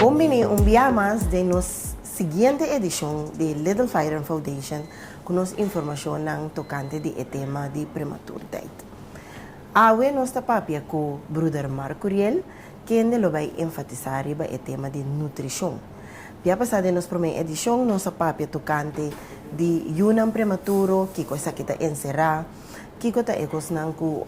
Bon bini un bia mas den nos siguiente edishon di Little Fairen Foundation ku nos informashonnan tokante di e tema di prematurteit. Awe nos ta papia ku bruder Marco Riel, Kende lo bai enfatisá riba e tema di nutrishon? Bia pasá den nos promé edishon nos a papia tokante di yunan prematuro, kiko esaki ta enserá, kiko ta e kosnan ku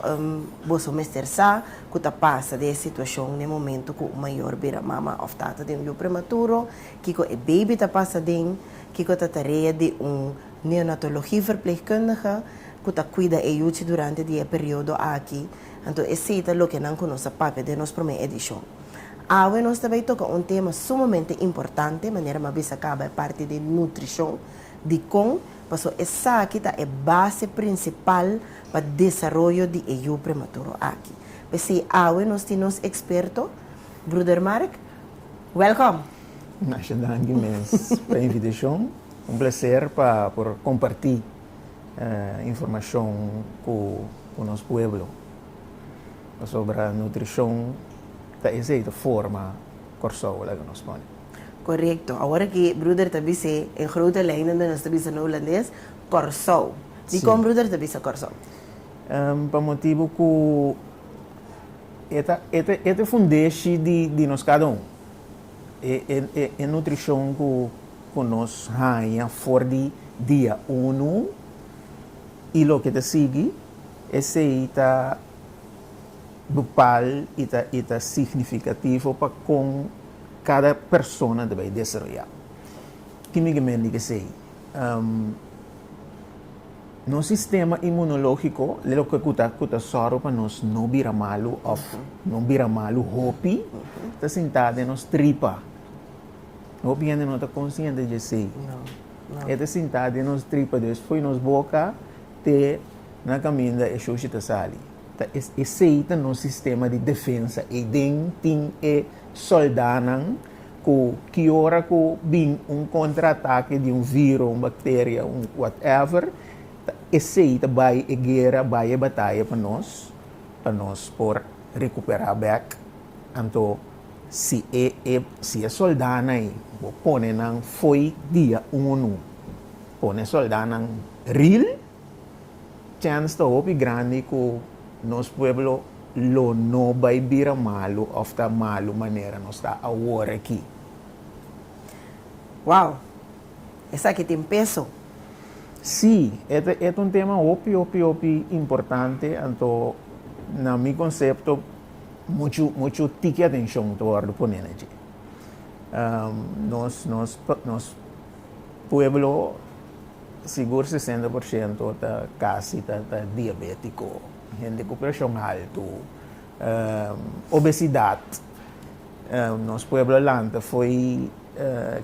boso mester sa ku ta pasa di e situashon n'e momentu ku un mayor bira mama òf tata di un yu prematuro, kiko e beibi ta pasa den, kiko ta tarea di un neonatologie-verpleegkundige ku ta kuida e yuchi durante di e periodo aki. Anto esei ta loke nan ku nos a papia den nos promé edishon. Awe nos ta bai toka un tema sumamente importante, manera mi a bisa kaba e parti di nutrishon, dikon, paso esaki ta e base prinsipal pa desaroyo di e yu prematuro aki. P'esei awe nos tin nos eksperto, Bruder Mark, wèlkòm! Masha danki mes pa e invitashon. Un plaser pa por kompartí informashon ku nos pueblo pasobra nutrishon ta esei ta forma Kòrsou laga nos kònde. Korekto. Awor ki bruder ta bis'é e grote lei nan den nos ta bisa na hulandes Kòrsou. Dikon bruder ta bisa Kòrsou? Pa motibu ku e ta e ta e ta e fundeshi di nos kada un. E e e nutrishon ku. ku nos haña for di dia unu i loke ta sigui, esei ta bepal i ta signifikativo pa kon kada persona ta bai desaroyá. Ki mi ta mende ku esei? Nos sistema inmunológiko es loke ku ta sòru pa nos no bira malu òf no bira malu hopi ta sintá den nos tripa. Hopi hende no ta konsiente djesei. E ta sintá den nos tripa des fo'i nos boka te na kaminda e shoshi ta sali. Ta es esei ta nos sistema di defensa. Ei den tin e soldánan ku ki ora ku bin un kontraatake di un viro, un bakteria, un whatever, ta esei ta bai e guera, bai e bataya pa nos, pa nos por rekuperá bèk. Anto. Si e e si e soldánan ei bo pone nan fo'i dia unu pone soldánan ril chèns ta hopi grandi ku nos pueblo lo no bai bira malu òf ta malu manera nos ta awor aki. Wow! Esaki tin peso. Sí, e ta e ta un tema hopi hopi hopi importante anto na mi konsepto. Muchu muchu tiki atencion ta wordo pone na dje. Nos nos nos pueblo sigur sesenta por ciento ta casi ta ta diabetico, hende cu presion alto, obesidad. Nos pueblo lanta fo'i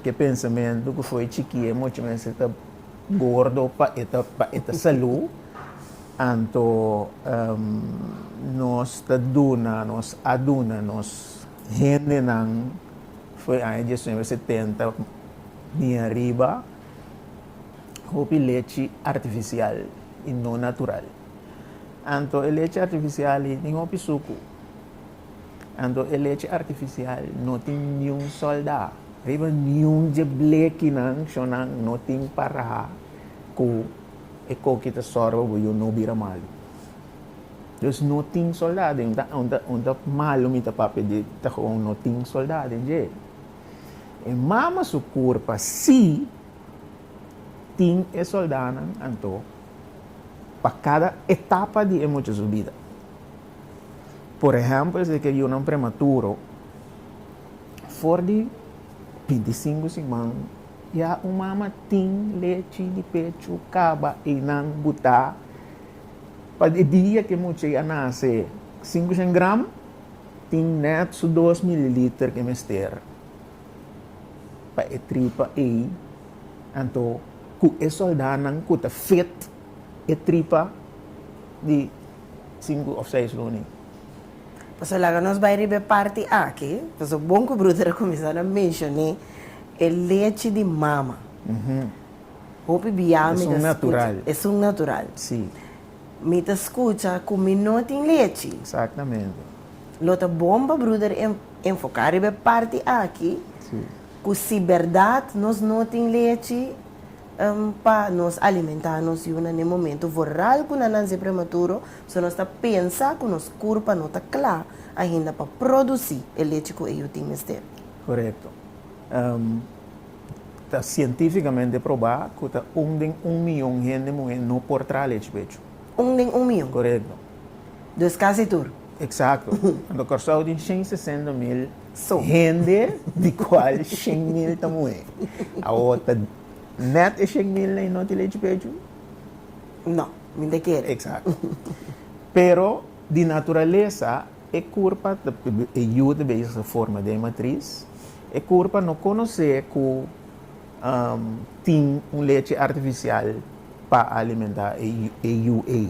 ke pensamento cu fo'i chikie mucho mester ta Gordo pa e ta pa e ta salu anto em nos ta duna nos a duna nos hendenan for e aña diesnuebe setenta bini ariba hopi lechi artifisial i no natural anto e lechi artifisial i tin hopi suku. Anto e lechi artificial no tin niun solda riba niun dje blekinan shonan no tin para cu e coki ta sor pa bo yo no bira malu dus no tin solda den un ta malu mi ta papia di ta gewoon no tin solda den dje e mama su curpa si tin e soldanan anto pa cada etapa di e mucha su bida. Por ehèmpel, si e ker yunan prematuro, for di bintisinku siman ya un mama tin lechi di pechu kaba einan butá pa e dia ku e mucha ya nase. Sinku shengram tin nèt su dos mililiter ku e mester pa e tripa ei. Anto ku e soldánan ku ta fit e tripa di. sinku òf seis runi. Pasobra laga nos bai riba e parti aki, pasobra bon ku bruder a kuminsá ta menshoné e lechi di mama. Hopi bia mi ta skucha, es un natural, mi ta skucha ku mi no tin lechi. Lo ta bon pa bruder enfoká riba e parti aki, ku si bèrdat nos no tin lechi, N pa nos alimentá nos yu nan e momentu voral ku nananse prematuro, so nos ta pensa ku nos kurpa no ta kla ainda pa produsí e lechi ku e yu tin mester. Korekto. N ta sientífikamente probá ku ta un den un miyon hende muhé no por traha lechi pechu. Un den un miyon? Korekto. Dus kasi tur. Eksakto. Anto Kòrsou tin shen sesenta mil. So hende di cual shen mil ta muhe. Awor ta net e shen mil na y no tin lechi pechu? No, mi ta kere. Exacto. Pero di naturalesa e curpa, e yu ta bezig ta forma den e matriz, e curpa no conoce cu tin un lechi artificial pa alimenta e yu ey.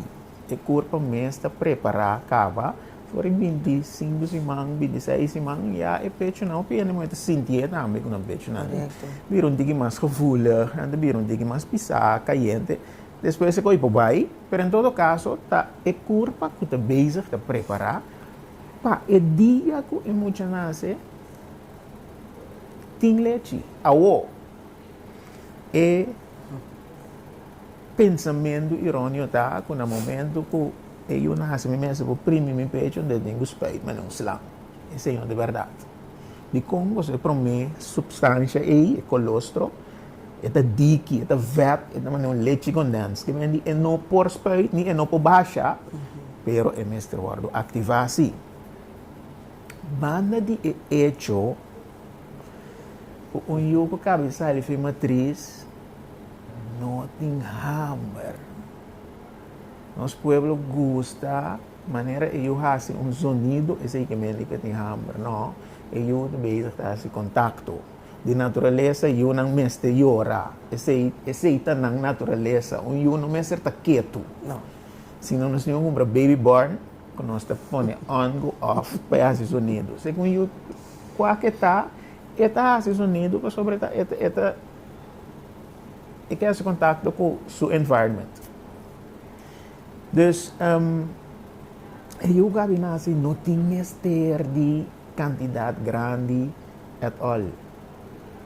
E kurpa mes ta prepará kaba for di binti sinku siman, binti seis siman, ya e pechunan hopi hende muhé ta sintié tambe ku nan pechunan ta bira un tiki mas gevoelig, nan ta bira un tiki mas pisá, kayente. Despues e kos por bai, pero en todo kaso ta e kurpa ku ta bezig ta prepará pa e dia ku e mucha nase tin lechi. Awor, e. Pensamentu irónio ta ku na momentu ku e yu nase mi mester por primi mi pecho den tin ku spijt mi no slam e señor di bèrdat. Dikon kos e promé supstansha ei, e kolostro, e ta diki, e ta vèt, e ta mane un lechi kondèns ke men di e no por spijt ni e no por basha, pero e mester wòrdu aktivá sí. Banda di e echo Ku un yu ku kab'e sali fin matris, no tin hamber. Nos pueblo gusta manera e yu hasi un zonido, esei ke men lika tin hamber. No, e yu ta bezig ta hasi kontakto. Di naturalesa yunan mester yora. Esei, esei ta nan naturalesa. Un yu no mester ta ketu. No. Sino nos tin un hombra baby born, ku nos ta pone on ku off pa e hasi zonido. Esei ku un yu. Kua ke ta e ta hasi su nidu pasobra e ta e ta e ke hasi kontakto ku su environment. Dus e yu gabinasi no tin mester di kantidat grandi at all.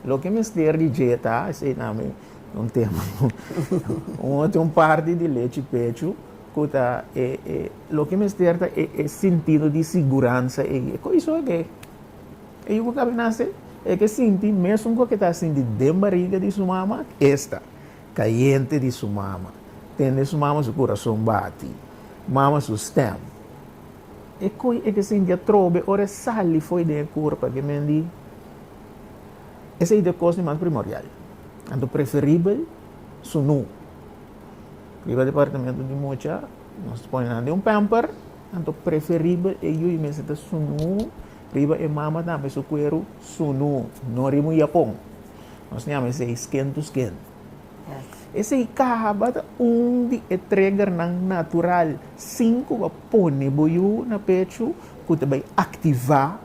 Loke mester di dje ta, esei tambe, Un tema cu un tin un parti di lechi pechu cu ta e, e, lo que mester ta e, e sentido di siguransa ei. E coiso que e yugo cabe nace, e que sinti mesmo cu que ta sinti den barriga di su mama, esta, cayente di su mama, tende su mama su corazon bati, mama su stem. E coi e que sinti atrobe ora sali foi den e curpa que men di Esei ta e kos di mas primorial. Anto preferibel su nu. Riba departamentu di mucha, nos ta pone nan den un pamper, anto preferibel e yu mester ta su nu, riba e mama tambe su kueru su nu, no riba un yapon. Nos ta yama esei skin to skin. Esei kaba ta un di e triggernan natural sin ku bo pone bo yu na pechu ku ta bai aktivá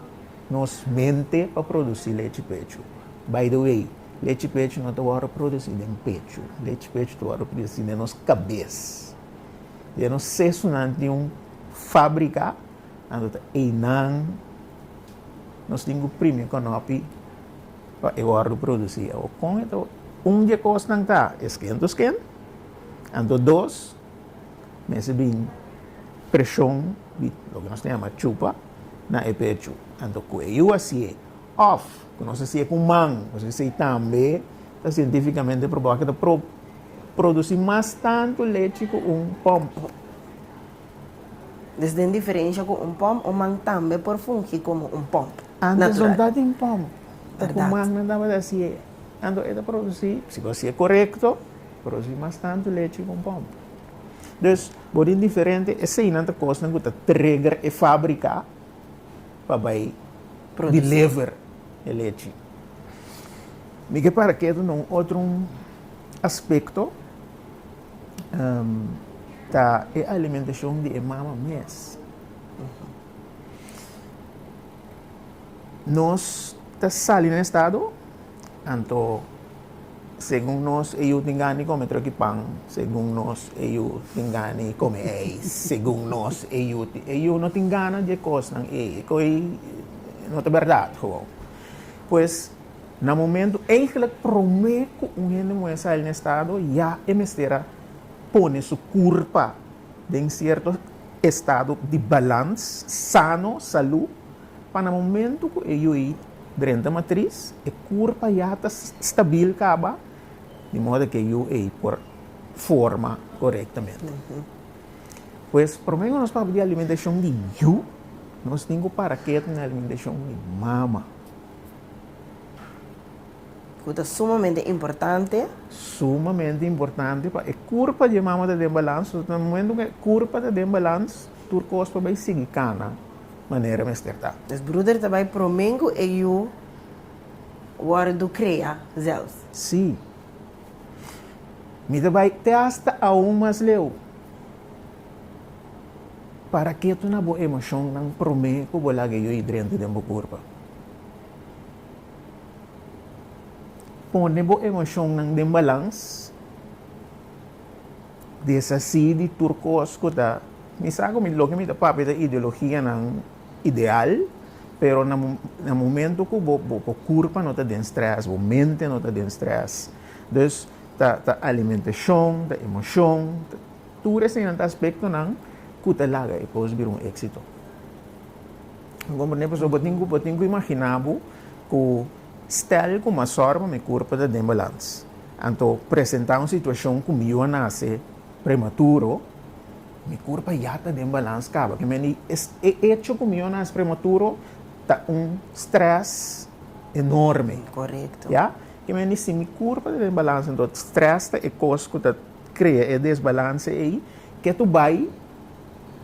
Nos mente pa produsí lechi pechu. By the way, lechi pechu no ta wòrdu produsí den pechu. Lechi pechu ta wòrdu produsí den nos kabes. Den nos sesunan tin un fábrika anto ta einan nos tin ku primi konòpi pa e wòrdu produsí. Awor, kon e ta wòrdu? Un di e kosnan ta e skentusken. Anto dos, mester bin preshon di loke nos ta yama chupa. na e pechu. Anto ku e yu a si'é, òf ku nos a si'é ku man, nos a si'é tambe ta sientífikamente probá ku ta produsí mas tantu lechi ku un pòmp. Desde en diferensha ku un pòmp, un man tambe por fungi komo un pòmp natural. Antes no ta tin pòmp, ta ku man nan tabata a si'é. Anto e ta produsí, si bo a si'é korekto, produsí mas tantu lechi ku un pòmp. Dus. Bo tin diferente, eseinan ta kosnan ku ta trigger e fábrika pa bai deliver e lechi. Mi ke para keda na un otro aspekto, ta e alimentashon di e mama mes. Nos ta sali na e stado, anto. Segun nos e yu tin gani kome troki pan, segun nos e yu tin gani kome ei, segun nos e yu tin. E yu no tin gana dje kosnan ei, e koi no ta bèrdat gewoon. Pues, na momentu eigelijk promé ku un hende muhé sa el na estado, ya e mester a pone su kurpa den sierto estado di balans, sano, salú, Pa na momentu ku e yu ei drenta matris, e kurpa ya ta stabil kaba, di modo ku e yu ei por forma korektamente. Pues, promé ku nos papia di alimentashon di yu, nos tin ku para keda na alimentashon di mama. Ku ta sumamente importante. Sumamente importante pa e kurpa di e mama ta den balans. Na momentu ku e kurpa ta den balans, tur kos por bai sigui kana. manera mester ta. Nos bruder ta bai promé ku e yu wòrdu krea zelfs. Sí. Mi ta bai te asta aun mas leu. Para ke tuna bo emoshonnan promé ku bo laga e yu hidrente den bo kurpa? Pone bo emoshonnan den balans. desasí di tur kos ku ta, mi sa ku loke mi ta papia ta ideologianan ideal, pero na na momento ku bo bo bo kurpa no ta den strès, bo mente no ta den strès, dus ta ta alimentashon, ta emoshon, tur eseinan ta aspektonan ku ta laga e kos bira un éksito. Mi komprende? Pasobra bo tin ku bo tin ku imaginá bo ku Stel ku mas sòru pa mi kurpu ta den balans, anto presentá un situashon ku mi yu a nase prematuro, mi kurpu a ya ta den balans kaba. Ke mende es e echo ku mi yu a nase prematuro ta un strès enorme. Korekto. Ya? Ke mende si mi kurpu ta den balans, anto strès ta e kos ku ta krea e desbalanse ei, ke tu bai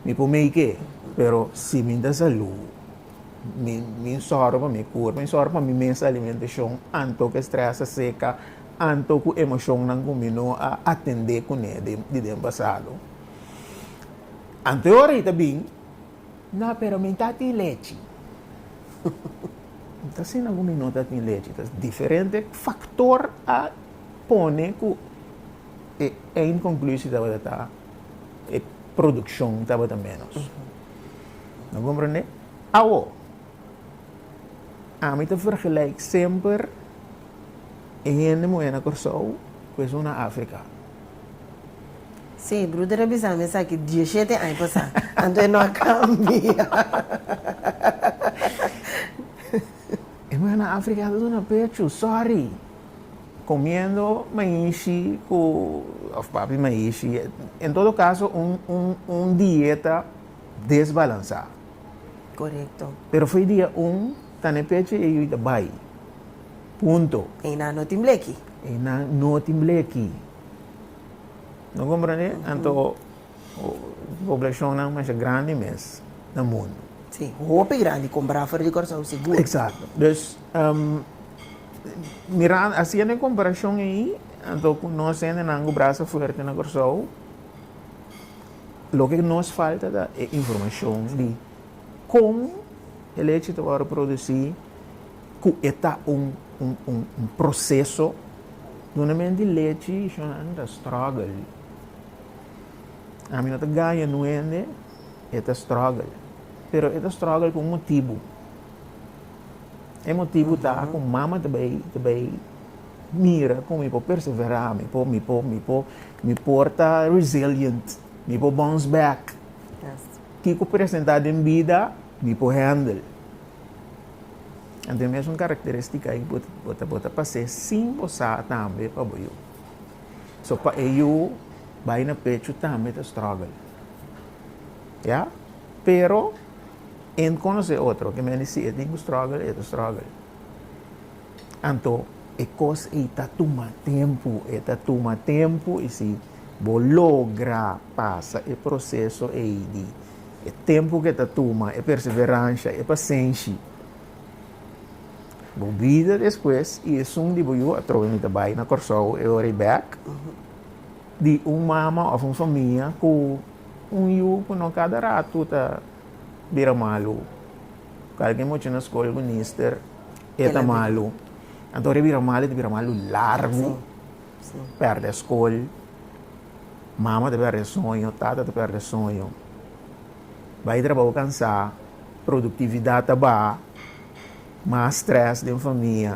mi por make e, pero si mi ta salú. Mi, mi sòru pa mi kurpa, mi sòru pa mi mes alimentashon anto ku e strès a seka, anto ku emoshonnan ku mi no a atendé kuné di den pasado. Anto e ora ei ta bin, nà, pero mi ta tin lechi. No ta asina ku mi no ta tin lechi, ta diferente faktor a pone ku e eindkonklusi tabata ta e produkshon tabata ménos. No comprende? Awo, ami ta vergelijk semper e hende muhé na Kòrsou ku esun na Afrika. Sí, bruder a bisa mi esaki dieshete aña pasá, anto e no a kambia. E muhé na Afrika ta duna pechu, sòri. Comiendo maishi cu of papi maishi. En todo caso un dieta desbalansa. Correcto. Pero fo'i dia un ta n'e pechi e yu ta bai. Punto. Einan no tin bleki. Einan no tin bleki. No comprende? Anto. Poblashonnan masha grandi mes na mundu. Sí, hopi grandi, kompará for di Kòrsou sigur. Eksakto. Dus, mirando, hasiendo e komparashon ei, anto ku nos hendenan ku brasa fuerte na Kòrsou, loke nos falta ta e informashon di kon e leche ta wòrdu produsí, ku e ta un, un, un, un proseso. Dunamenti lechi, shonnan ta struggle. Ami no ta gaya nu hende, e ta struggle. Pero e ta struggle ku un motibu. E motibu ta ku mama ta bai, ta bai mira como mi por persevera, mi por, mi por, mi por, mi por ta resilient, mi por bounce back. Ki ku presenta den bida, mi por handle. Anto e mesun karakteristika ei bo ta, bo ta, bo ta pas'é sin bo sa tambe pa bo yu. So pa e yu bai na pechu tambe ta struggle. Ya? Pero en konosé otro ke men di si e tin ku struggle, e ta struggle. Anto e kos ei ta tuma tempu, e ta tuma tempu i si bo logra pasa e proseso ei di e tempu ke ta tuma, e perseveransha, e pasenshi, Bo bida despues y esun di bo yu atrobe mi ta bay na Corsou e ora y bek di un mama of un famia cu un yu cu no cada ratu ta bira malu. Cu algin mochi na scol algun nister e ta malu. Anto ora e bira malu e ta bira malu largu, perde scol, mama ta perde soño, tata ta perde soño. Bay trabao cansa. Produktividat ta baha, mas strès den famia.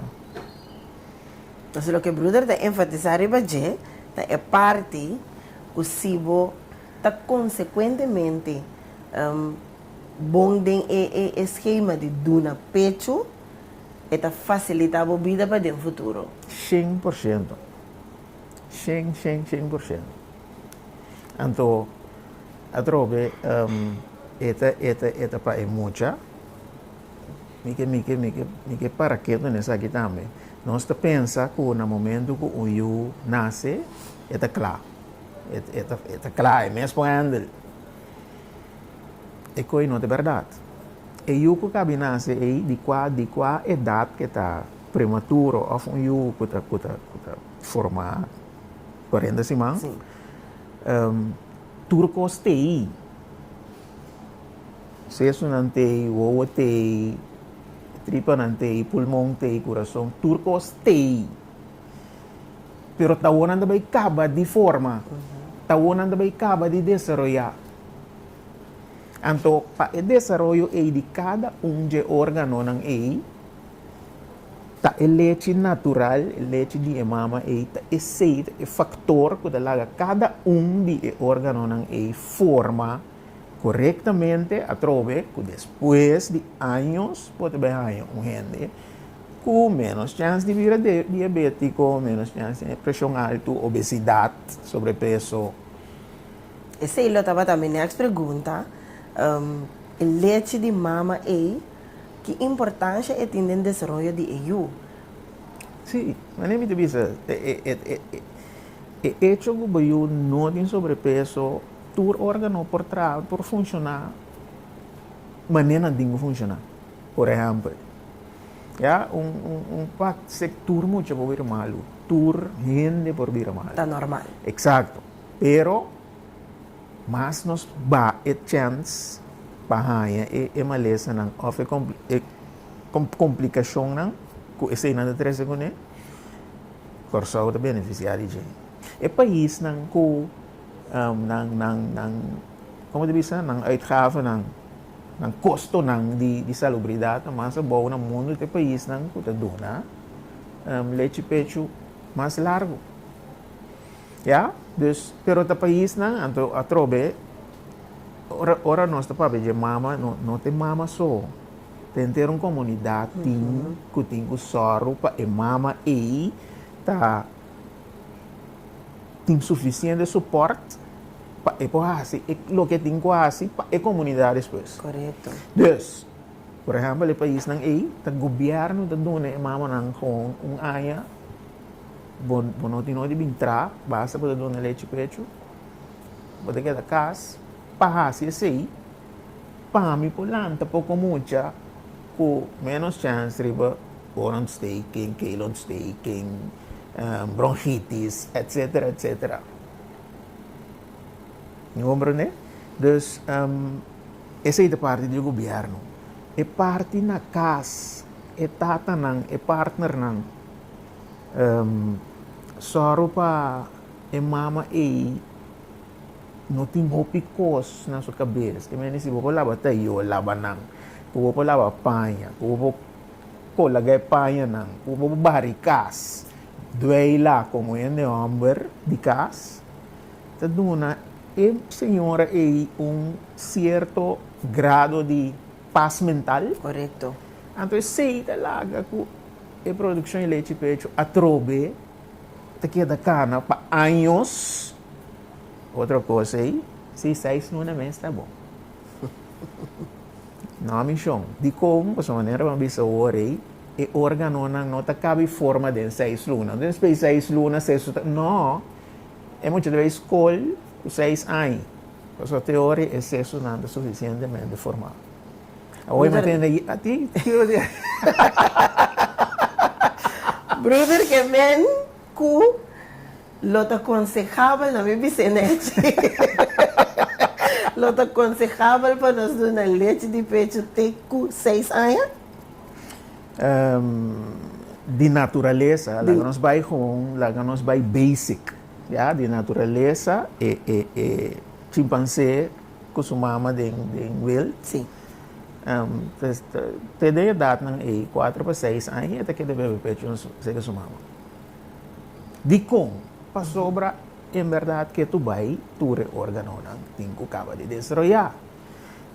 Entonces loke bruder ta enfatisá riba dje ta e parti ku si bo ta konsekuentemente bon den e skema di duna pechu e ta fasilitá bo bida paden futuro. Shen por shento. Shen, shen, shen por shento. Anto, atrobe, e ta, e ta, e ta pa e mucha. Mi ke, mi ke, mi ke, mi ke para ketu na esaki tambe. Nos ta pensa ku na momentu ku un yu nase, e ta kla. E, e ta, e ta kla, e mes por hèndel. E koi no ta bèrdat. E yu ku kabi nase ei, di kua, di kua edat ke ta prematuro òf un yu ku ta, ku ta, ku ta. Forma cuarenta siman. Sí. Um, tur cos tei. Sesunan tei, wowo tei, tripanan tei, pulmon tei, corazon, tur cos tei. Pero tawonan ta bay caba di forma. Uh -huh. Tawonan ta bay caba di desarrollar. Anto, pa e desarrollo ei di cada un je órganonan ei, Ta e lechi natural, e lechi di e mama ei, ta e seit, e faktor ku ta laga kada un di e órganonan ei forma korektamente atrobe ku despues di años bo ta bin haña un hende ku ménos chèns di bira diabétiko, ménos chèns di preshon altu, obesidat, sobrepeso. Esei lo tabata mi nèks pregunta, e lechi di mama ei. Ki importansha e tin den desaroyo di e yu? Sí, manera mi ta bisa e echo ku bo yu no tin sobrepeso, tur órgano por traha, por funshoná manera nan tin ku funshoná. Por ehèmpel, ya un pak se tur mucha por bira malu, tur hende por bira malu. Ta normal. Eksakto, pero. Mas nos ba e chèns pa haña e malesanan òf e komplikashonnan ku eseinan ta trese kuné, Kòrsou ta benefisiá di dje. E paisnan ku nan komo ta bisa nan uitgavenan, nan kostonan di salubridat ta mas abou na mundu ta e paisnan ku ta duna lechi pechu mas largu. Ya, dus pero ta paisnan anto atrobe ora ora nos ta papia dje mama no no ta e mama so ta enter un comunidad tin cu tin cu zorgo pa e mama ey ta tin suficiente support pa e por haci loke tin cu haci pa e comunidad despues Correcto. dus por ehempel e paisnan ey ta gobierno ta duna e mamanan gewoon un aña Bo no tin orid'i bin tra, basta bo ta duna lechi pechu, bo ta keda kas. Pa hasi esei, pami por lanta poko mucha ku ménos chèns riba oorontsteking, keelontsteking, bronhitis, etsetera, etsetera. Mi komprende? Dus, esei ta parti di e gobièrnu. E parti na kas, e tatanan, e partnernan. Sòru pa e mama ei no tin hopi kos na su kabes. E mester si bo por laba tayo, laba nan. Ku bo por laba paña, ku bo por kolaga e pañanan, ku bo por bari kas, dueila komo hende hòmber di kas, ta duna e señora ei un sierto grado di. Pas mental. Korekto. Anto e sei ta laga ku e produkshon di lechi pechu atrobe ta keda kana pa años. Otro kos ei, si seis muna mes ta bon. No a mishon. Dikon? Pasobra manera bo a bisa ora ei, e órganonan no ta kabi forma den seis luna. Despues di seis luna, sesu ta. No. E mucha ta bai skol. Ku seis aña, pasobra te ora e sesonan ta sufisientemente formá. Awoy mester na gi a ti. Bruder ke men ku lo ta konsehaba na mi bisenechi, lo ta konsehaba pa nos duna lechi di pechu te ku seis aña? Di naturalesa, laga nos bai hon, laga nos bai basic. Ya, di naturalesa e e e chimpansé ku su mama den den wild. Sí. Em, te, te, te den edadnan ei, kuater pa seis aña, e ta keda bebe pechu na su, seke su mama. Dikon? Pasobra en berdad ke tu bai tur e órganonan tin ku kaba di desaroyá.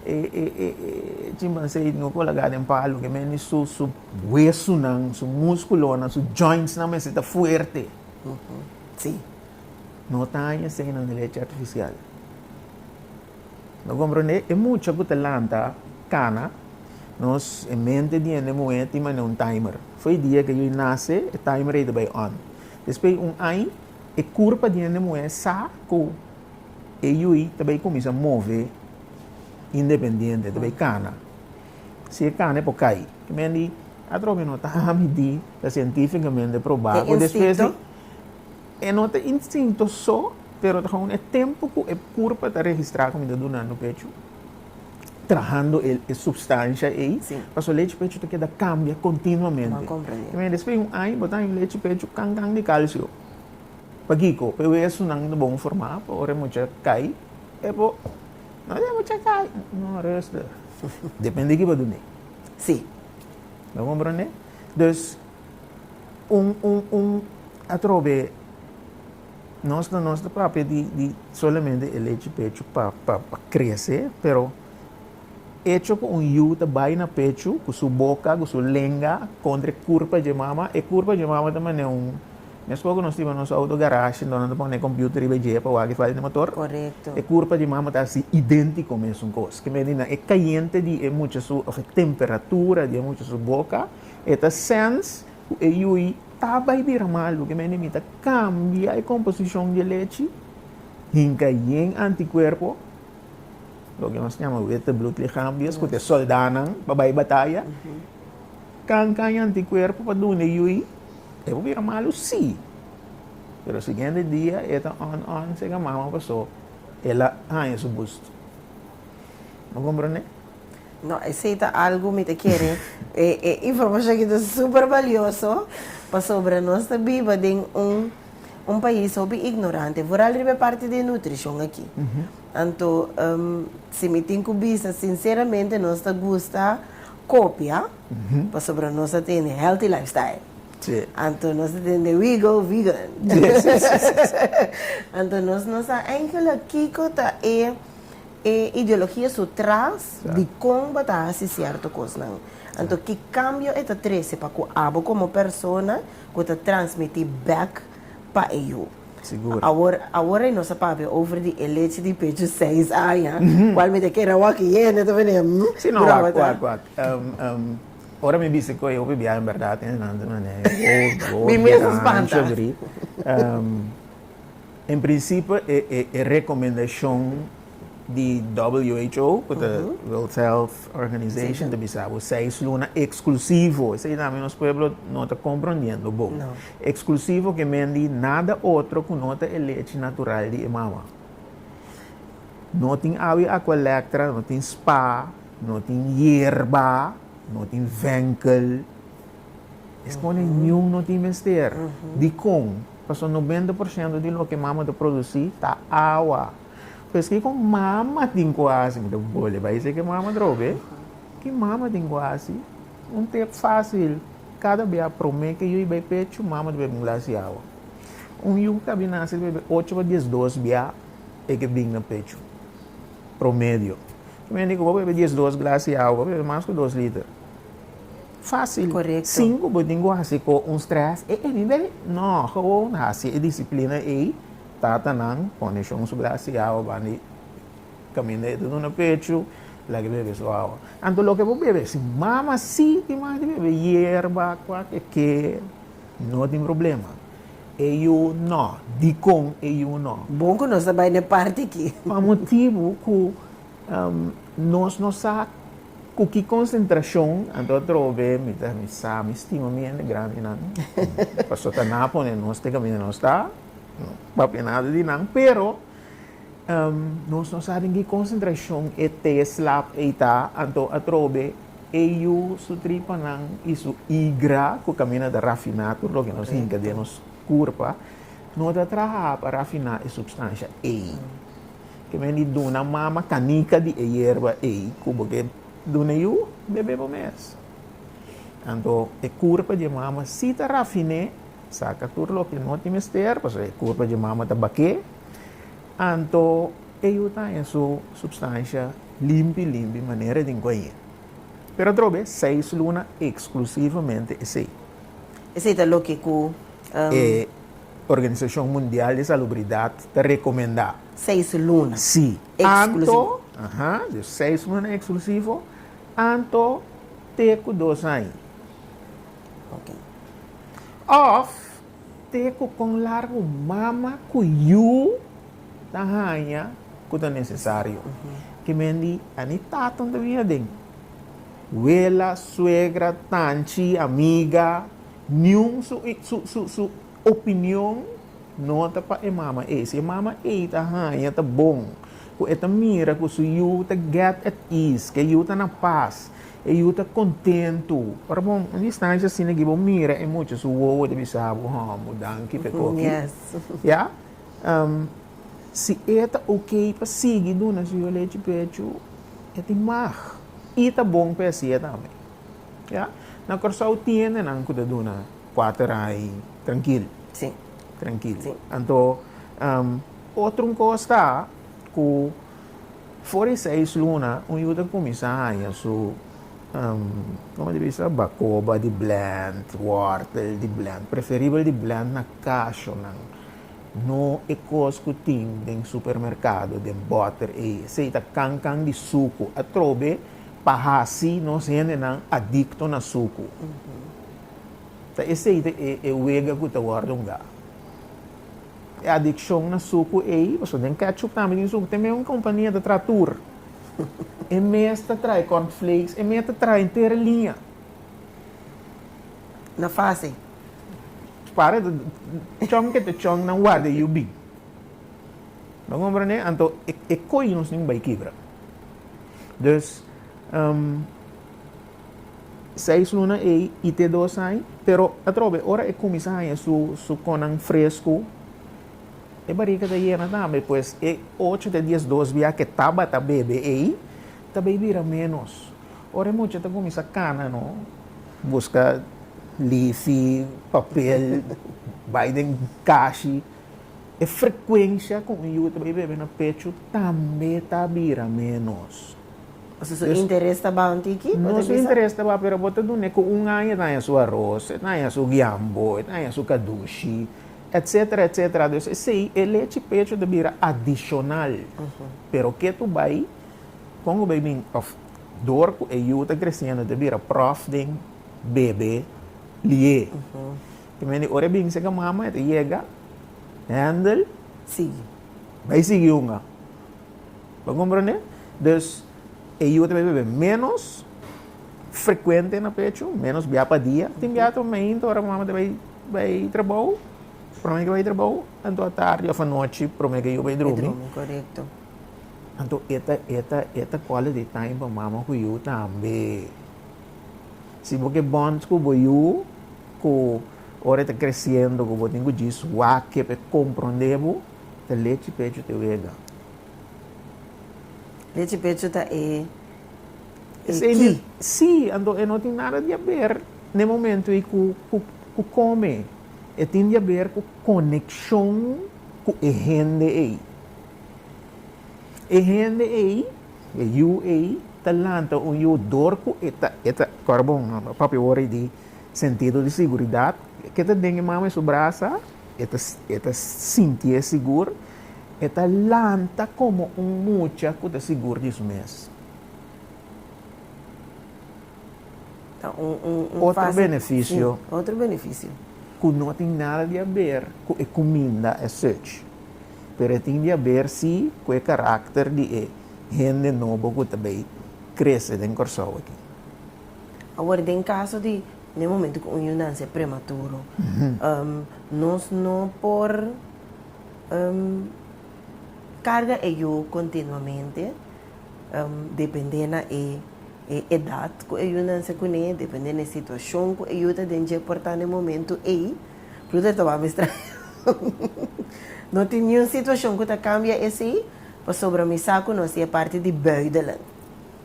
E e e e chimpansé ei tin ku laga den palu, ke mende su su wesunan, su múskulonan, su jointsnan mester ta fuerte. Sí. No ta haña eseinan di lechi artificial. No comprende? E mucha cu ta lanta cana, nos e mente di hende muhé tin manera un timer. Fo'i dia que yo'i nace, e timer ei ta bai on. Despuei un ai, e curpa di hende muhé sa cu e yo'i ta bai cuminsa move independiente, ta bai cana. Si e cana e por cai. Ki men di, atrobe no ta midi. Ta sientífikamente probá ku despues di. E instinto? E no ta instinto so, pero ta gewoon e tempu ku e kurpa ta registrá ku mi ta dunando pechu, trahando e supstansha ei, pasobra lechi pechu ta keda kambia kontinuamente. Mira, despues di un aña bo ta haña un lechi pechu kan kan di kalsio. Pakiko? P'e wesunan ta bon formá pa ora e mucha kai, e bo no ta e mucha kai. No, ruster. Depende di kiba dun'é. Si. Bo komprondé? Dus, un, un, un atrobe nos no nos ta papia di, di solamente e lechi pechu pa, pa, pa crece, pero echo cu un yu ta bay na pechu cu su boca, cu su lenga contra e curpa dje mama, e curpa dje mama ta mane un Mescua cu nos tin nos auto garashi, enton nan ta pone e computer riba e dje pa wak e falla di motor. Correcto. E curpa di mamo ta haci identico mesun cos. Ke medi nan? E cayente di e mucha su, of e temperatura di e mucha su boca, e ta sense cu e yui ta bay bira malu. Ke medi mi ta cambia e composicion di e lechi, hinca yen anticuerpo, loke nos nama wete bloedlichaamjes, cu ta e soldanan pa bay bataya, canca e anticuerpo pa dunde yui. E por bira malu si, pero siguiente dia e ta on on sega mama paso el a haña su busto. Bo comprende? No, esey ta algo mi ta kere e e informacion aki ta super valioso pasobra nos ta biba den un un pais hopi ignorante vooral riba e parti di e nutricion aki. Anto si mi tin cu bisa sinceramente nos ta gusta copia. Pasobra nos ta tende healthy lifestyle. Anto nos ta tende we go vegan. Anto nos no sa enkele kiko ta e e ideologia su tras di kon bo ta hasi sierto kosnan. Anto ki kambio e ta trese pa ku abo komo persona ku ta transmiti bèk. pa e yu. Sigur. Awor, awor nos a papia over di e leche di pechu seis aña, cual mi ta kere awor aki hende ta bini, hm, Si no, wak, grobata. wak, wak. Um, um, ora mi bisti cu e hopi biaha en berdad tin esnan mane ocho, Mi dies mes a aña, spanta. shobri. Um, en principe e, e, e recomendacion. di who, cu ta World Health Organization, ta bisa bo seis luna exclusivo. Esey ta ami nos pueblo no ta comprondiendo bo. Exclusivo ke men di nada otro cu no ta e lechi natural di e mama. No tin awi Aqualectra, no tin spa, no tin yerba, no tin venkel. Es pone niun no tin mester. Dicon? Pasobra noventa por ciento di loke e mama ta produci ta awa. Pero esaki ku mama tin ku hasi, mi ta bole bai esaki mama drobe. Ki mama tin ku hasi? Un te fasil, kada bia prome ke yu i bai pechu, mama ta bebe un glas di awa. Un yu ku ta bin nase ta bebe ocho pa diesdos bia e ke bin na pechu, promedio. Ki bai indica ku bo bebe diesdos glas di awa, bo ta bebe mas ku dos liter. Fasil. Sin ku bo tin ku hasi ku un stress, e e mi bebe. No, hou hou hasi e disiplina ei Tatanan pone shon su bras y awa ban di caminda y ta duna pechu, laga e bebe su awa. Anto loke bo bebe, si mama si tin manga di bebe, yerba, cuaque ke, no tin problema. E yu no, dicon e yu no? Bon cu nos ta bay na e parti aki. Pa motibu cu nos no sa cu ki concentracion anto a trobo be, mi ta mi sa mi stima mi hende grandinan, pasobra ta na pone nos te caminda nos ta. Papia nada di nan, pero nos no sa den ki konsentrashon e tea slap ei ta, anto atrobe e yu su tripanan i su igra, ku kaminda ta rafiná tur loke nos hinka den nos kurpa, no ta traha pa rafiná e supstansha ei. Ke men di duna mama kanika di e yerba ei ku bo ke duna e yu, bebe bo mes. Anto e kurpa di e mama si ta rafiné Saca tur loke no tin mester, pasobra e curpa dje mama ta baké, anto e yu ta haña su substancia limpi limpi manera den guaye. Pero atrobe seis luna exclusivamente esey. Esey ta loke cu e Organisacion Mundial di Salubridad ta recomenda. Seis luna exclusivo. Si. Seis luna exclusivo, anto te cu dos aña. Ok. Òf te ku kon largu mama ku yu ta haña ku ta nesesario. Kimen di Ani taton ta bini aden. Wela, suegra, tanchi, amiga, niun su opinion no ta pa e mama ei. Si e mama ei ta haña ta bon, ku e ta mira ku su yu ta get at ease, ku e yu ta na pas. E yu ta kontentu. Ora bo un distanshi asina di bo mira e mucha, su wowo ta bisa bo, ha, bo danki pa e koki. Ya? Si e ta ok pa sigui duna su yo lechi pechu, e tin mag. I ta bon pa e hasi'e tambe. Ya? Na Kòrsou tiende nan ku ta duna kuater ai trankil. Si. Trankil. Si. Anto, otro un kos ta ku. For di seis luna, un yu ta kuminsá haña su bakoba di blend, wòrtel di blend, preferibel di blend na kashonan, no e kos ku tin den supermerkado, den bòter ei. Esei ta kan kan di suku. Atrobe pa hasi nos hendenan adikto na suku. Ta esei ta e wega ku ta wòrdu ungá. E adiccion na sucu ey, pasobra den ketchup tambe tin sucu, te mey un compania ta traha tur. E mes ta traha e corn flakes, e mes ta traha enter e liña. Na fase, para ta chong ke ta chong nan warda e yu bin. Bo comprende? Anto e coy nos tin bay kibra. Dus. Seis luna ei i te dos aña. Pero atrobe, ora e kuminsá haña su su konan fresku, e barika ta yena tambe. Pues e ocho te dies dos bia ke tabata bebe ei, ta bai bira ménos. Ora e mucha ta kuminsá kana no, buska lifi, papel, bai den kashi, e frekuensia ku un yu ta bai bebe na pechu tambe ta bira ménos. Su su interes ta bao un tiki? No su interes ta bao pero bo ta dun'e cu un aña e ta haña su aros, e ta haña su giambo, e ta haña su cadushi, etc. Etc. Dus esey e lechi pecho ta bira adicional. Pero ke tu bay, con cu bay bin of door cu e yu ta creciendo ta bira prof den bebe lie. Te meen di ora e bin seca mama e ta yega, handle, bay sigui hunga. Bo comprende? Dus e yu ta bira bebe menos frecuente na pecho, menos bia pa dia. Tin bia otro momento ora mama ta bay bay trabou, prome ke bay trabou, anto atardi of anochi prome ke yu bay drumi. Drumi, correcto. Anto eta eta eta quality time pa mama cu yu tambe. Si bo ke bond cu bo yu cu ora e ta creciendo cu bo tin cu djis wak ke pe comprende bo, ta lechi pechu te wega? Lechi pechu ta e ki? Sí, anto e no tin nada di aber n'e momento ei ku kome. E tin di aber ku konekshon ku e hende ei. E hende ei, e yu ei, ta lanta un yu dor ku e ta, e ta, kòrda bon, pape wòrdu di sentido di siguridat, ke ta den e mama, e su brasa. E ta sintié sigur. E ta lanta komo un mucha ku ta sigur di su mes. Otro benefisio ku no tin nada di a ber ku e kuminda es such, pero e tin di a ber si ku e karakter di e hende nobo ku ta bai krese den Kòrsou aki. Awor den kaso di. na e momento cu un yunan sea prematuro, nos no por carga e yu continuamente, depende na e edad cu e yunan sea cune, depende na e situacion cu e yu ta den dje por ta na e momento ey, Ruth a tawaba mes traha, no tin niun situacion cu ta cambia esey, pasobra mi sa cu nos ta e parti di buidelen.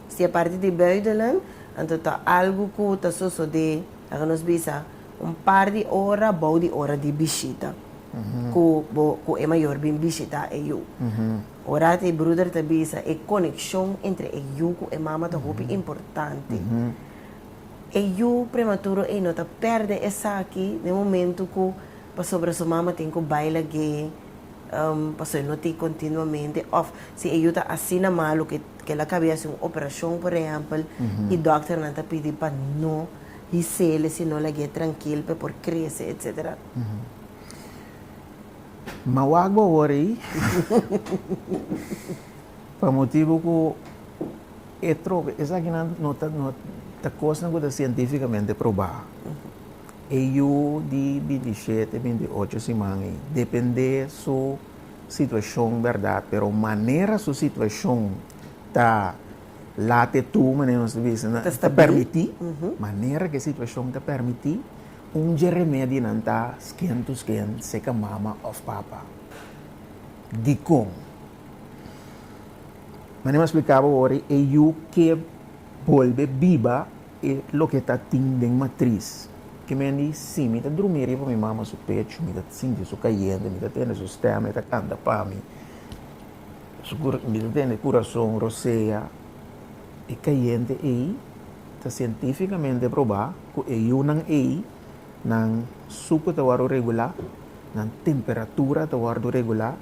Si e parti di buitenland, anto ta algu ku ta sosodé, laga nos bisa, un par di ora bou di ora di bishita ku bo ku e mayor bin bishitá e yu. Ora e bruder ta bisa e konekshon entre e yu ku e mama ta hopi importante. E yu prematuro ei no ta pèrdè esaki den momentu ku. Pasobra su mama tin ku baila gay paso e no tin kontinuamente òf si e yu ta asina malu ku kel a kabia hasi un operashon por ehèmpel i dòkternan ta pidi pa no his'el si no lag'é trankil pa e por krese etsetera. Ma wak bo awor ei pa motibu ku e trobe esakinan no ta kosnan ku ta sientífikamente probá. E yu di bintisiete, bintiocho siman ei depende su situashon bèrdat, pero manera su situashon ta lat e tur, manera nos ta bisa, ta pèrmití, manera ku e situashon ta pèrmití, un dje remedinan ta sken tu sken seka mama òf papa. Dikon? Manera mi a splikaba wòrdu, e yu ke bolbe biba. E loke ta tin den matris. Ke men di, Sí, mi ta drumi riba mi mama su pechu, mi ta sinti su kayente, mi ta tende su stèma e ta kanta pa mi, mi ta tende kurason rosea. E kayente ei ta sientífikamente probá ku e yunan ei nan suke ta wòrdu regulá, nan temperatura ta wòrdu regulá,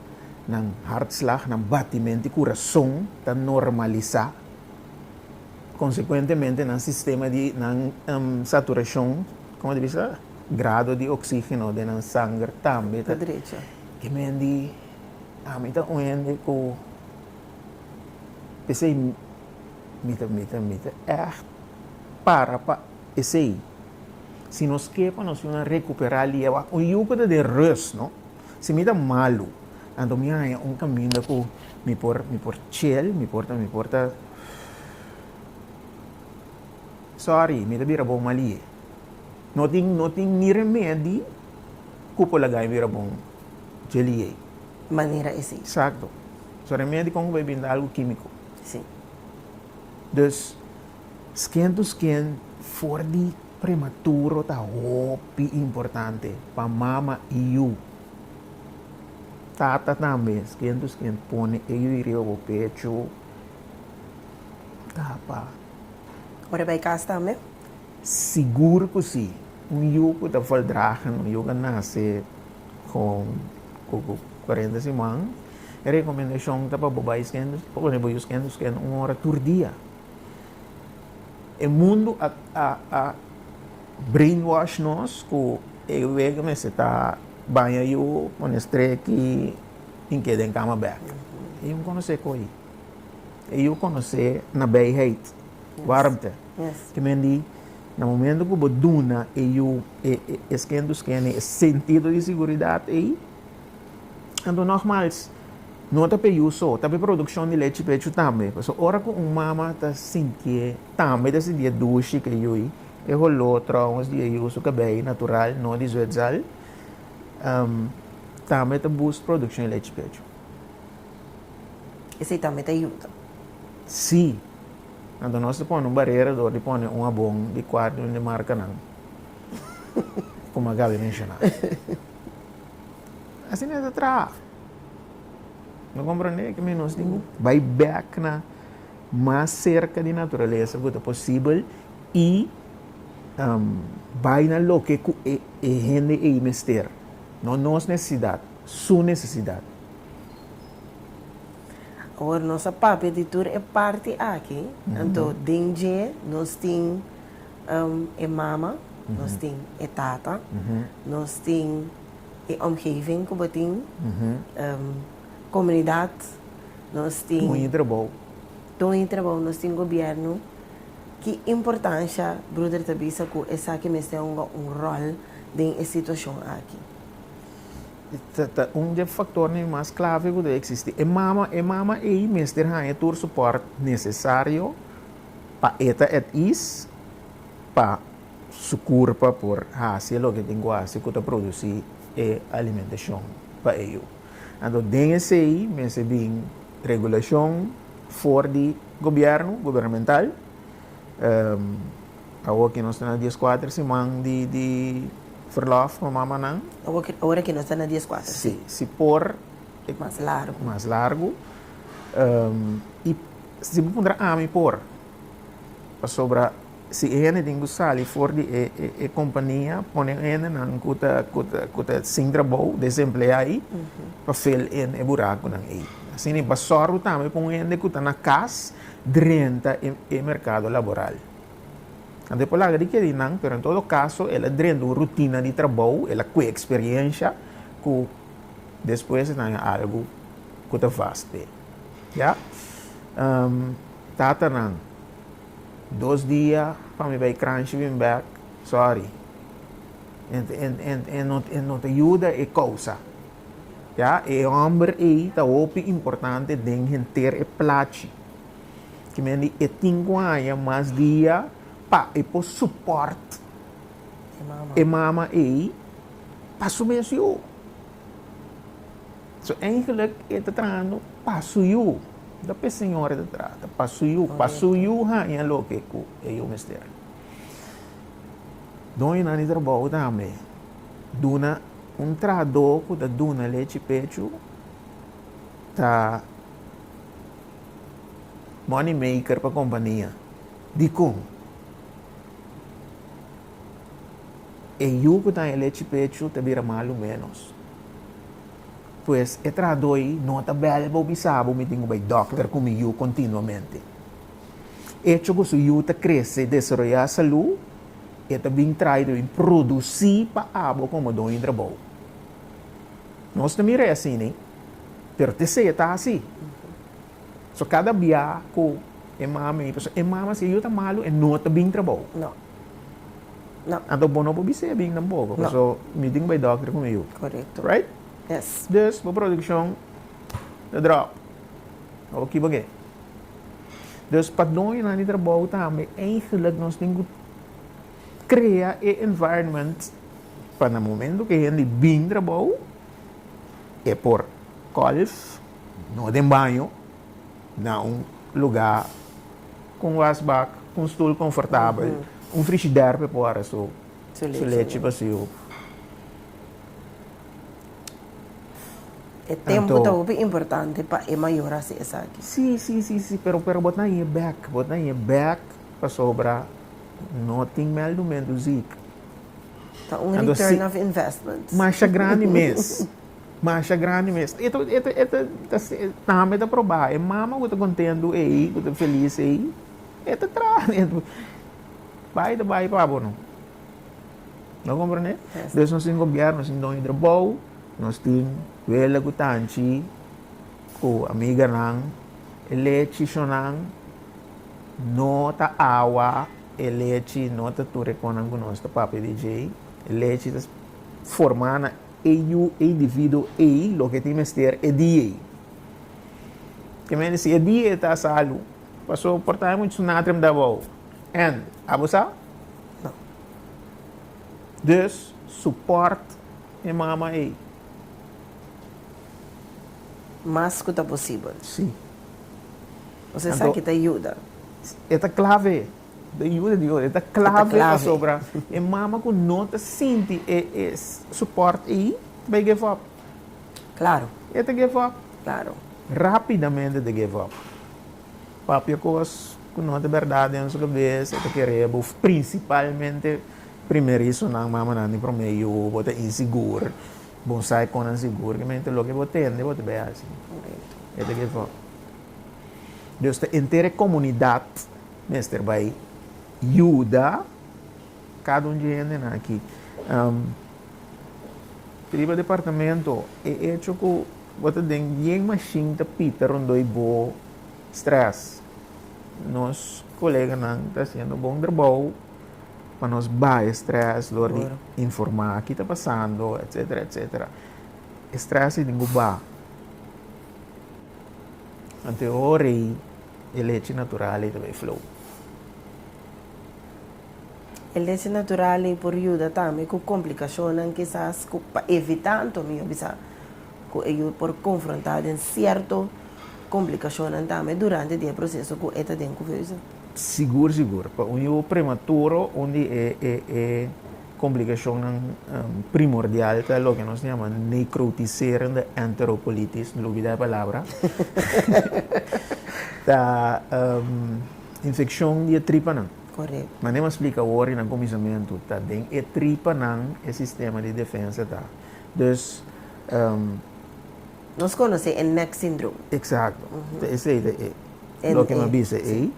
nan hartslag, nan batimenti kurason ta normalisá. Konsekuentemente nan sistema di nan saturashon, kòm a ta bisa, grado di oksígeno den nan sanger tambe ta drecha. E men di, Ami ta un hende ku p'esei mi ta mi ta mi ta ègt para pa esei. Si nos ke pa nos yuna rekuperá liewa un yu ku ta den rùst, no? Si mi ta malu, anto mi haña un kaminda ku mi por mi por chel, mi por ta mi por ta. Sorry, mi ta bira bon malié. No tin, no tin ni remedi ku por laga mi bira bon djelié. Manera esei. Exacto. So remedi kon ku bai binda algu kimiko. Si. Dus, skin to skin for di prematuro ta hopi importante pa mama i yu. Tata tambe, skin to skin, pone e yu riba bo pechu. Tapa. Ora e bai cas tambe? Sigur cu si. Un yu cu ta voldragen, un yu cu a nace cu cuarenta siman, e recomendacion ta pa bo bai skendi, bo pone bo yu skendi skendi un ora tur dia. E mundo a brainwash nos cu e wega mester ta baña yu, pone streki. tin ke den kama bèk. E yu konosé koi. E yu konosé na bèiheid, wòrmte. Ke men di, na momento ku bo duna e yu e skin to skin e sentido di siguridat ei, anto nògmals, no ta p'e yu so, ta p'e produkshon di lechi pechu tambe. Pasobra ora ku un mama ta sintié, tambe ta sintié dushi ku e yu ei, e holó, tròngos di e yu su kabei natural, no di zwètzal, Tambe ta boost produccion di lechi pechu. Esey tambe ta yuda? Si. Anto nos ta pone un barera door di pone un abon di cuarto en di marcanan. Como a Gaby menciona. Así no ta traha. No comprende que nos tin que bay back na Mas serka di naturalesa ku ta posibel i bai na loke ku e hende ei mester, no nos nesesidat, su nesesidat. Awor nos a papia di tur e parti aki, anto den dje nos tin e mama, nos tin e tata, nos tin e omgeving ku bo tin, Komunidat, nos tin. Toñi trabou. Toñi trabou, nos tin gobièrnu. Ki importansha bruder ta bisa ku esaki mester hunga un ròl den e situashon aki? Ta un di e faktornan mas klave ku ta eksistí. E mama, e mama ei mester haña tur supòrt nesesario pa e ta at is pa su kurpa por hasi loke tin ku hasi ku ta produsí e alimentashon pa e yu. Anto den esei mester bin regulashon for di gobièrnu, gubernamental. Awo ke nos ta na dies kuater siman di verlòf pa mamanan. Awo ke ora ke nos ta na dies kuater si. Si, si por e ku Mas largu. Mas largu. I si bo puntra ami por pasobra Si e hendenan ku sali for di e kompania pone un hendenan ku ta sin trabou, desempleá ei, pa fil in e burakunan ei. Asina i basòru tambe pa un hende ku ta na kas drenta e merkado laboral. Tantu e por laga di kere di nan, pero en todo kaso el a drenta un rutina di trabou, el a kue eksperiensha ku despues e ta haña algu ku ta vast p'e. Ya? Tatanan. Dos dia pa mi bay crunchy bin bek, sorry. E no ta yuda e causa. Ya, e homber ey ta hopi importante den henter e plachi. Ki men di e tin cu haya mas dia pa e por support e mama ey pa su mes yo. So eigenlijk e ta trahando pa su yu. No p'e señor e ta trata, pa su yu. Pa su yu haña loke ku e yu mester. Doñonan di trabou tambe duna un trahadó ku ta duna lechi pechu, ta money maker pa kompania. Dikon? E yu ku ta na e lechi pechu ta bira malu ménos. Pues e trahadó ei no ta bèl'e bo bisa bo mi tin ku bai dòkter ku mi yu kontinuamente. Echo ku su yu ta krese i desaroyá salú, e ta bin traido i produsí pa abo komo doño trabou. Nos ta mir'é asina, pero t'esei e ta así. So kada bia ku e mama i pasobra e mama si e yu ta malu e no ta bin trabou. No. No. Anto bo no por bis'é a bin tampoko. No. Paso mi tin ku bai dòkter ku mi yu. Korekto. Right? Yes. Dus bo produkshon ta dròp. Bo por kiba ke. Dus pa doñonan di trabou tambe eigenlik nos tin ku krea e environment pa na momento ku e hende bin trabou e por kòlf. No den baño, na un lugá ku un wasbak, ku un stul konfortabel, un frishider pa e pora su lechi pa su yu. E tempu ta hopi importante pa e mayor hasi esaki. Sí, sí, sí, sí, pero, pero bo ta hie bèk, bo ta hie bèk pasobra no tin mèldumentu ziek. Ta un return of investment. Masha grandi mes. Masha grandi mes. E ta, e ta, e ta, ta tambe ta probá. E mama ku ta kontentu ei, ku ta felis ei, e ta traha dentro. Bai ta bai pa bo no. No komprende? Dus nos tin gobièrnu, nos tin Don Iidro Bou, nos tin Wela ku Tanchi, ku amiganan. E lechi shonan no ta awa, e lechi no ta tur e konan ku nos ta papia di djei. E lechi ta formá na. e yu e individuo ei lo ke tin mester e dia ei. Ke mester si e dia ei ta salu, paso por ta hay muchu sunatrem ta abou. En, abo sa? No. Dus, suport e mama ei. Mas ku ta posibel. Si. Ose sa Anto, ki ta yuda. e ta klave. De yuda di ora e ta clave pasobra e mama cu no ta sinti e e support ey ta bay give up. Claro. E ta give up. Claro. Rapidamente e ta give up. Papia cos cu no ta berdad den su cabeza e ta kere bo principalmente primerizonan mamanan di prome yu bo ta insigur bo no sa e con nan sigur ki mente loke bo tende bo ta bay haci. Correcto. E ta give up. Dios ta enter e comunidad. Mester bai yuda cada un dje hendenan aki. Riba departamento, e echo cu bo ta den bien machine ta pita rondoi bo stress. Nos coleganan ta haciendo bon trabou pa nos bai e stress door di informa ki ta pasando, etcetera, etcetera. E stress ei tin cu ba. Antehoray. E lechi natural ei ta bay flow. E lechi natural ei por yuda tambe cu complicacionnan kisas cu pa evita anto mi a bisa cu e yu por confronta den cierto complicacionnan tambe durante di e proceso cu e ta den cubeusa. Sigur sigur pa un yu prematuro un di e. Komplikashonnan primordial ta loke nos ta yama necrotiserende enterocolitis, mi lo bida e palabra. Ta infekshon di e tripanan. Korekto. Mane mas splika awor i na kuminsamentu, ta den e tripanan e sistema di defensa ta. Dus, Nos konosé e nek sindrom. Eksakto. Ta esei ta e loke mi a bisa ei.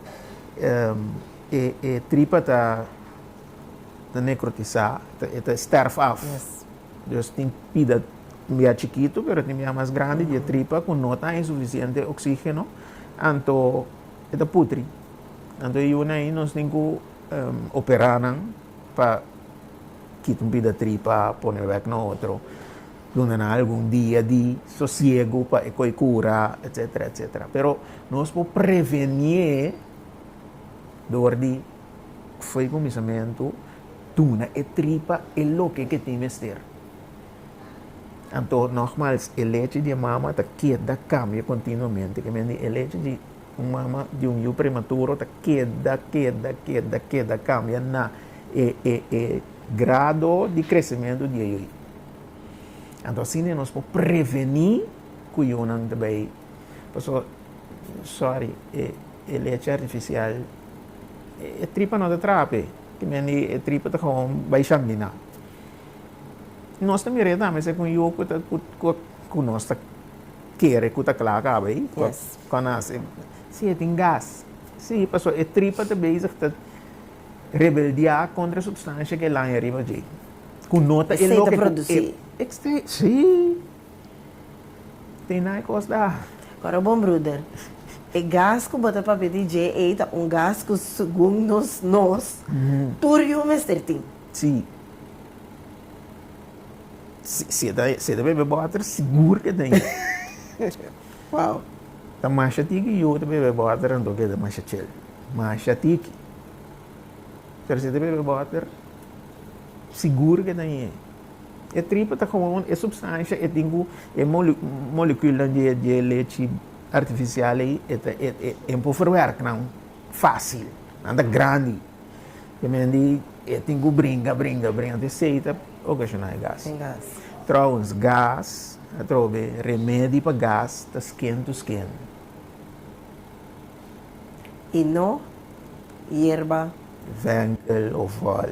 E tripa ta. ta necrotisá, e ta sterf af. Dus tin pida bia chikitu, pero tin bia mas grandi, di e tripa ku no ta e sufisiente oksígeno, anto e ta putri. Anto e yuna ei nos tin ku operá nan pa kita un pida tripa, pone bek na otro, duna nan algun dia di sosiegu pa e koi kura, etcetera, etcetera. Pero nos por prevenié dor di. Fo'i kuminsamentu, duna e tripa e loke ke tin mester. Anto, nogmals, e lechi di e mama ta keda kambia kontinuamente. Ke men di e lechi di un mama di un yu prematuro ta keda, keda, keda, keda kambia na e, e, e grado di kresementu di e yu. Anto, asina nos por preveni ku yunan ta bai. Pasobra, sorry, e E lechi artifisial e tripa no ta traha p'e. Timia di e tripa ta gewoon bai shambina. Nos ta mira e tambe serka un yu ku nos ta kere ku ta kla kaba ei. Kon a hasi? Si e tin gas. Si, pasobra e tripa ta bezig ta rebeldiá kontra e supstansha ku e laña riba dje. Ku no ta e loke ku e. E ta produsi. Si. Tin nai kos da. Ora bon bruder. E gas ku bo ta papia di dje ei ta un gas ku segun nos nos tur yu mester tin. Si. Si e ta si e ta bebe bòter sigur ke ta yu. Wow. Ta masha tiki yu ta bebe bòter anto ke ta masha chel. Masha tiki. Pero si e ta bebe bòter sigur ke ta yu. E tripa ta gewoon e supstansha e tin ku e molekuulnan di e lechi artifisial ei e por ferwerk nan fásil. Nan ta grandi. P'e men di e tin ku bringa, bringa, bringa te esei ta okashoná e gas. Tròwens, gas, atrobe remedi pa gas ta skin to skin. I no yerba. Venkel o vòl.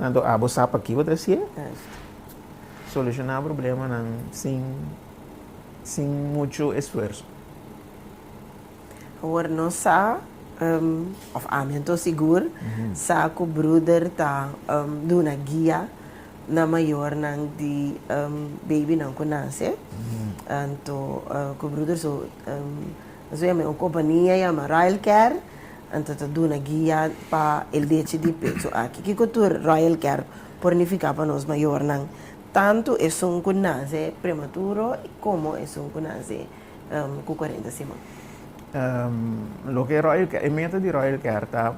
Anto abo sa p'aki bo tras'é? Solushoná problemanan sin, sin muchu esfuerso. Awor nos sa, òf ami anto sigur sa ku bruder ta duna guia na mayornan di beibinan ku nase. Anto ku bruder so. Nos a yama e un kompania yama Royal Care, anto ta duna guia pa e lechi di pecho aki. Kiko tur Royal Care por nifiká pa nos mayornan, tantu esun ku nase prematuro komo esun ku nase ku kuarenta siman? Loke Royal Care, e meta di Royal Care ta,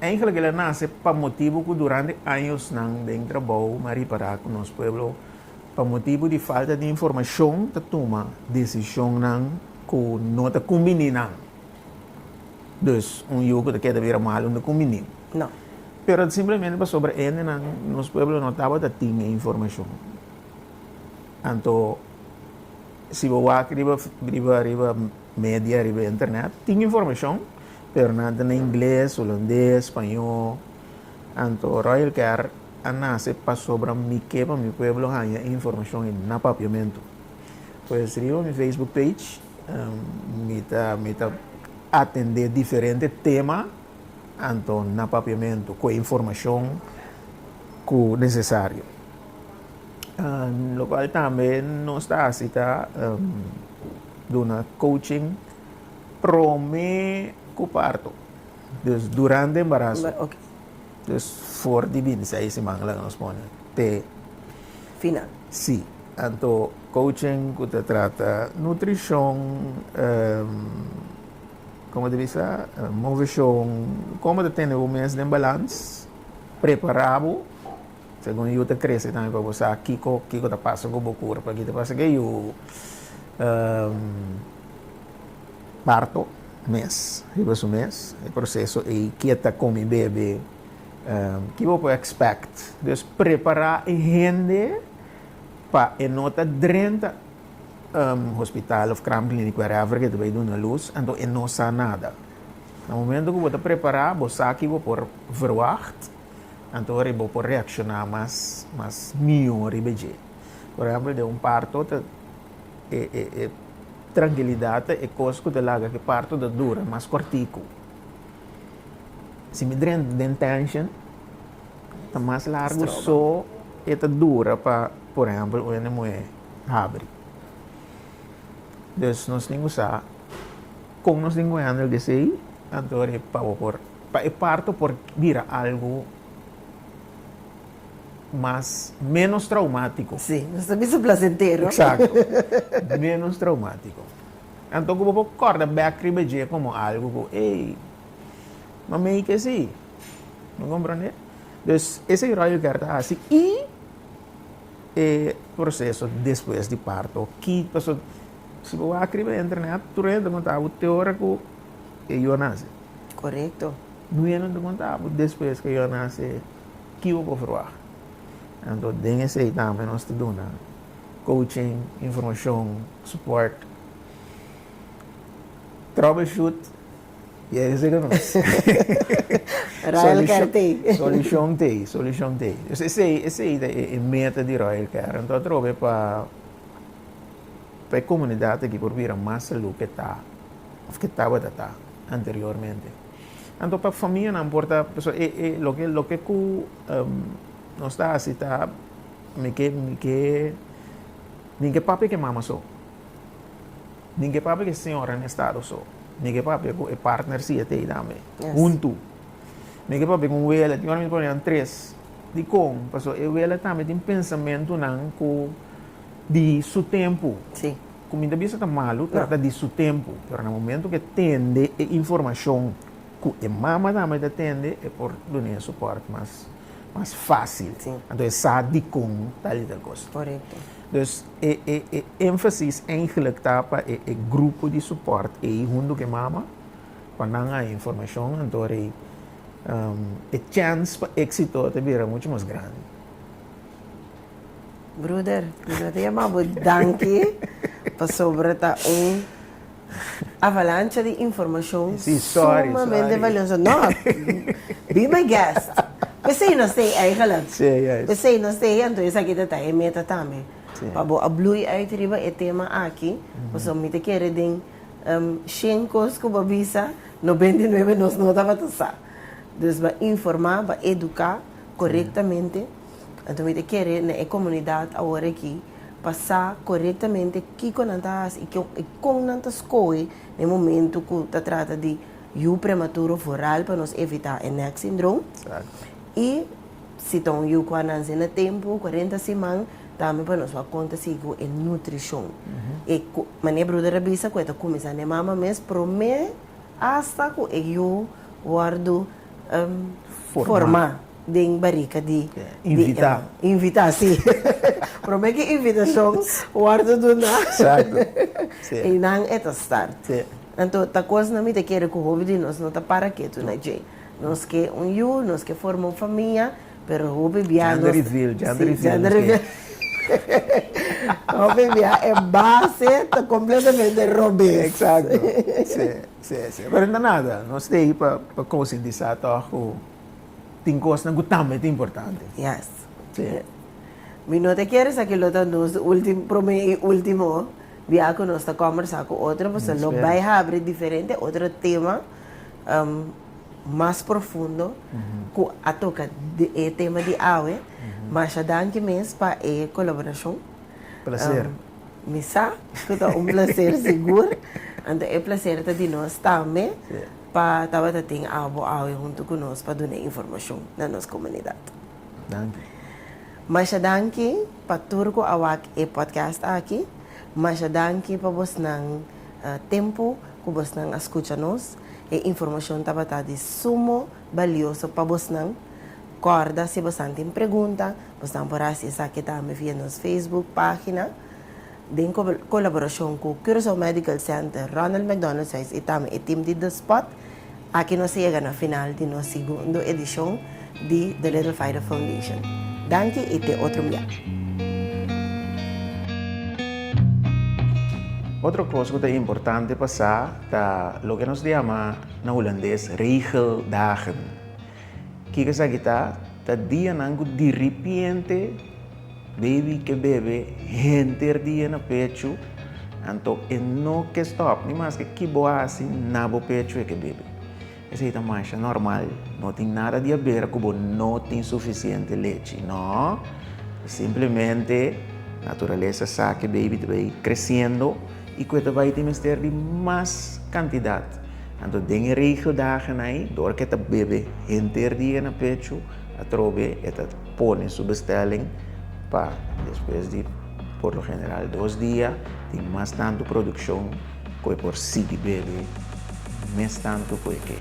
Eigelik el a nase pa motibu ku durante añosnan den trabou, mi a ripará ku nos pueblo Pa motibu di falta di informashon ta tuma desishonnan ku no ta kumbiní nan. Dus, un yu ku ta keda bira malu no kumbiní. No. Pero simplemente pasobra endenan nos pueblo no tabata tin e informashon. Anto si bo wak riba riba riba media, riba internet, tin informashon, pero nan ta na ingles, hulandes, spañó. Anto Royal Care. a nase pasobra mi ke pa mi pueblo haña e informashon ei na papiamentu. Pues riba mi Facebook page mi ta mi ta atendé diferente tema anto na papiamentu ku e informashon ku nesesario. Lokual tambe nos ta hasi ta duna coaching promé ku parto, dus durante embaraso. Pues for di bini seis siman laga nos pone te final. Si, anto coaching cu ta trata nutricion, como ta bisa, movecion, como ta tene bo mes den balans, prepara bo, segun yu ta crece tambe pa bo sa kico kico ta pasa cu bo cuerpo, aki ta pasa cu yu. Parto, mes riba su mes, e proseso ei ki e ta con mi bebe, ki bo por expect. Dus prepara e hende pa e no ta drenta hospital of Kraam Kliniek wherever ke ta bay duna luz anto e no sa nada. Na momento ku bo ta prepara bo sa ki bo por verwacht anto ora bo por reacciona mas mas mihor riba dje. Por ehempel den un parto ta. e e e trankilidat ta e kos ku ta laga ku e parto ta dura mas kortiku. Si mi dren den tension, ta mas largu Stroba. so e ta dura pa, por ehempel, un hende muhé habri. Dus nos tin ku sa kon nos tin ku handle di esei, anto e pabor por, pa e parto por bira algu mas, menos traumático. Sí, nos ta bisa placentero. Exacto. menos traumático. Anto ku bo por korda back riba dje como algo ku, ey, no me que sí. No comprende? Dus, ese rollo ker ta hasi y e proceso después di parto. Ki, paso, si bo wak riba internet, tur hende konta bo teora ku e yo nase. Correcto. Nu hende konta bo después ke yo nase. Ki bo por verwagt? Anto den esei tambe nos ta duna coaching, informashon, support, troubleshoot y a veces nos Royal Care ta ei. Solucion ta ei, solucion ta ei. Dus esei, esei ta e meta di Royal Care. Anto atrobe pa pa e comunidad aki por bira mas salud ke ta of ke tabata ta anteriormente. Anto pa famianan por ta paso e e loke loke ku nos ta hasi ta mi ke mi ke mi ke papia ke mama so mi ke papia ke señora na estado so mi ke papia ku e partner siye tei tambe huntu mi ke papia ku un wele tin ora mi ta papia nan tres dikon paso e wele tambe tin pensamentunan ku di su tempu Ku mi ta bisa ta malu trata di su tempu, pero na momentu ku e tende e informashon ku e mama tambe ta tende, e por duna e sopòrt mas mas fásil. Anto e sa dikon tal i tal kos. Korekto. Dus e e e énfasis eigenlijk ta pa e e grupo di sopòrt ei huntu ku e mama pa nan haña informashon. Anto rei e chèns pa éksito ta bira muchu mas grandi. Bruder, mi no ta yama bo danki pasobra ta un avalancha di informashon sumamente valioso. No, be my guest. P'esei nos ta ei eigenlijk. P'esei nos ta ei, anto esaki ta ta e meta tambe. Pa bo a bloei uit riba e tema aki, pasobra mi ta kere den shen kos ku bo a bisa, nobenta i nuebe nos no tabata sa. Dus, b'a informá, b'a eduká korektamente. Anto mi ta kere na e komunidat awor aki pa sa korektamente kiko nan ta hasi i kon nan ta skohe na e momento ku ta trata di yu prematuro òf oral pa nos evitá e neck syndrome. Exacto. I si ta un yu ku a nanse na tempu, kuarenta siman, tambe pa nos wak kon ta sigui ku e nutrishon. E ku mane bruder a bisa ku e ta kuminsá na e mama mes promé asta ku e yu wòrdu forma den barika di invita invita si prome ki invitashon wordo duna ei nan e ta start anto ta kos nan mi ta kere ku hopi di nos no ta para ketu na dje nos ke un yu nos ke forma un famia pero hopi bia nos gender reveal hopi bia e base ta completamente robes. Sí, sí. Pero no nada. Nos ta ahí pa, pa concientizar toch cu tin cosnan cu tambe ta importante. Yes. Sí. Mi no ta quiere sa que lo ta nos ultim, prome y ultimo bia cu nos ta conversa cu otro, pues lo Spero. bay habri diferente otro tema um, mas profundo cu a toca di e tema di awe. Masha danki mes pa e colaboracion. Placer. Mi sa cu ta un placer sigur. Anto e placer ta di nos tambe pa tabata tin abo awe hunto cu nos pa duna informacion na nos comunidad. Danki. Masha danki pa tur cu a wak e podcast aki. Masha danki pa bosnan tempo cu bosnan a scucha nos. E informacion tabata di sumo. balioso pa bosnan. Kòrda si bosnan tin pregunta, bosnan por hasi esaki tambe via nos Facebook página, den kolaborashon ku Curaçao Medical Center, Ronald McDonald Seis i tambe e tim di The Spot. Aki nos a yega na final di nos segundo edishon di The Little Fighter Foundation. Danki i te otro mia. Otro kos ku ta importante pa sa ta loke nos di yama. Na Hulandes, regeldagen. Kiko esaki ta? Ta dianan ku diripiente baby ke bebe henter dia na pechu, anto e no ke stòp ni maske ki bo hasi na bo pechu e ke bebe. Esei ta masha nòrmal, no tin nada di habera ku bo no tin sufisiente lechi, nò. Simplemente naturalesa sa ke baby ta bai kresiendo. i ku e ta bai tin mester di mas kantidat. Anto den e regio dagen ai, dor ku e ta bebe henter dia na pechu, atrobe e ta pone su bestelling pa despues di por lo general dos dia tin mas tantu produkshon ku e por sigui bebe mes tantu ku e ke.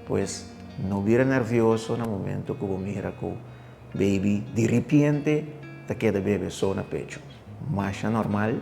Pues no bira nervioso na momento ku bo mira ku baby diripiente ta keda bebe so na pechu. Masha normal.